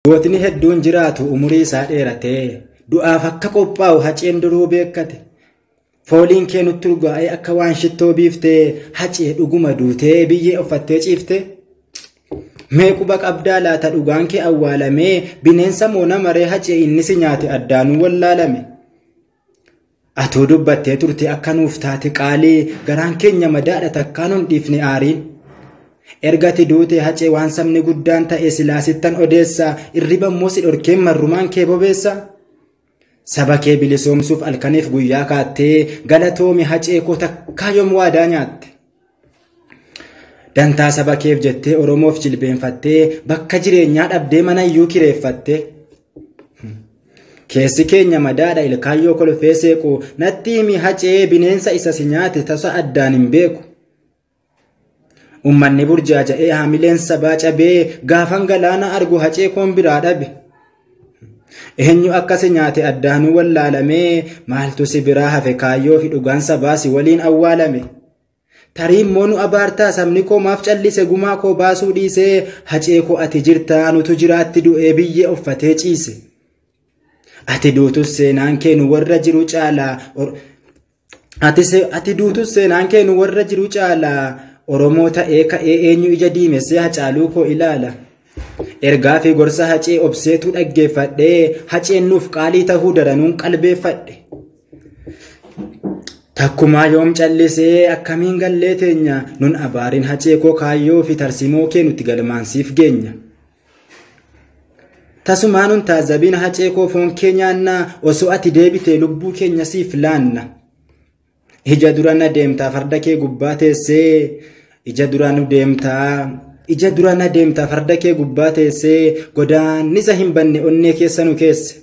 Gootni hedduun jiraatu umurii isaa dheeratee du'aaf akka qophaa'u haceen duruu beekkate. Fooliin kee nutti urgaa'ee akka waan shittoo biiftee hacee dhuguma duutee biyyee uffattee ciifte. Mee quba qabdaa laata dhugaan kee awwaalamee bineensa moo nama ree hacee inni si nyaate addaanuu wallaalame. Atuu dubbattee turte akka nuuf taate qaalii garaan keenya madaadha takkaa nun dhiifne aariin. Ergati duute hacee waan sabni guddaan ta'e silaa sittan odeessa irriba immoo si dhorkeen marrumaan kee bobeessa. Saba kee bilisoomsuuf alkaniif guyyaa kaattee galatoomi hacee koo takkaa yoom waadaa nyaatte. Dantaa saba keef jettee Oromoof jilbeenfattee bakka jireenyaa dhabdee mana iyyuu kireeffatte. Keessi keenya madaadha ilkaayyoo kolfee seequ natti himi hacee bineensa isa si nyaate tasa addaan hin beeku. Ummanni burjaaja'ee haamileen sabaa cabee gaafan galaana argu hacee koon biraa dhabe. Eenyu akka si nyaate addaanuu wallaalamee maaltu si biraa hafe kaayyoo fi dhugaan sabaa si waliin awwaalame. Tarii immoo nu abaartaa sabni koo maaf callise gumaa koo baasuu dhiisee hacee koo ati jirta anutu jiraatti du'ee biyyee uffatee ciise. Ati duutus seenaan kee nu warra jiru caalaa ati duutus seenaan kee nu warra jiru caalaa Oromoo ta'ee ka'ee eenyu ija diimessee hacaaluu koo ilaala. Ergaa fi gorsa hacee obseetu dhaggeeffadhee haceen nuuf qaalii tahuu daranuun qalbeeffadhe. Takkumaa yoom callisee akkamiin gallee teenya nun abaariin hacee koo kaayyoo fi tarsimoo kee nuti galmaan siif geenya. Tasumaa nun taazabiin hacee koo foon kee nyaannaa osoo ati deebitee lubbuu keenya siif laanna. Ija dura na deemtaa farda kee gubbaa teessee ija dura nu deemtaa ija dura na deemtaa farda kee gubbaa teessee godaannisa hin banne onnee keessa nu keesse.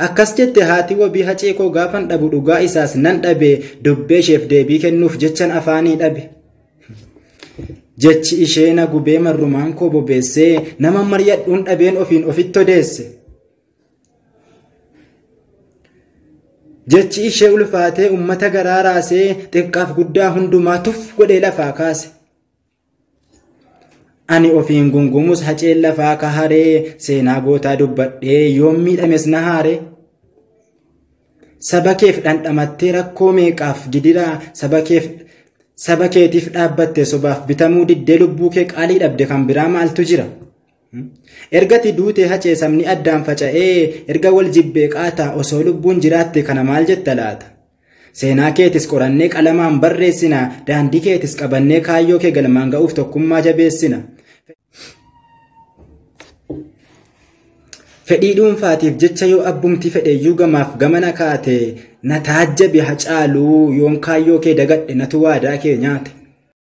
Akkas jette haati wabii hacee koo gaafan dhabu dhugaa isaas nan dhabe dubbee isheef deebii kennuuf jechan afaanii dhabe. Jechi ishee na gubee marrumaan koo bobeessee nama maryadhuun dhabeen ofiin ofitti odeesse. Jechi ishee ulfaatee ummata garaa raasee xiqqaaf guddaa hundumaa tuf godhee lafaa kaase. Ani ofiin gungumus haceen lafaa ka haree seenaa gootaa dubbadhee yoom miidhames na haare. Saba keef dhandhamattee rakkoo meeqaaf gidiraa saba keef saba keetiif dhaabbatte sobaaf bitamuu diddee lubbuu kee qaalii dhabde kan biraa maaltu jira. Ergati duutee hacee sabni addaan faca'ee erga wal jibbee qaataa osoo lubbuun jiraatte kana maal jetta laata? Seenaa keetis qorannee qalamaan barreessina, daandii keetis qabannee kaayyoo kee galmaan ga'uuf tokkummaa jabeessina. Fedhii dhuunfaatiif jecha yoo abbumti fedheyyuu gamaaf gamana kaate na taajjabi hacaaluu yoon kaayyoo kee dagadhe natu waadaa kee nyaate.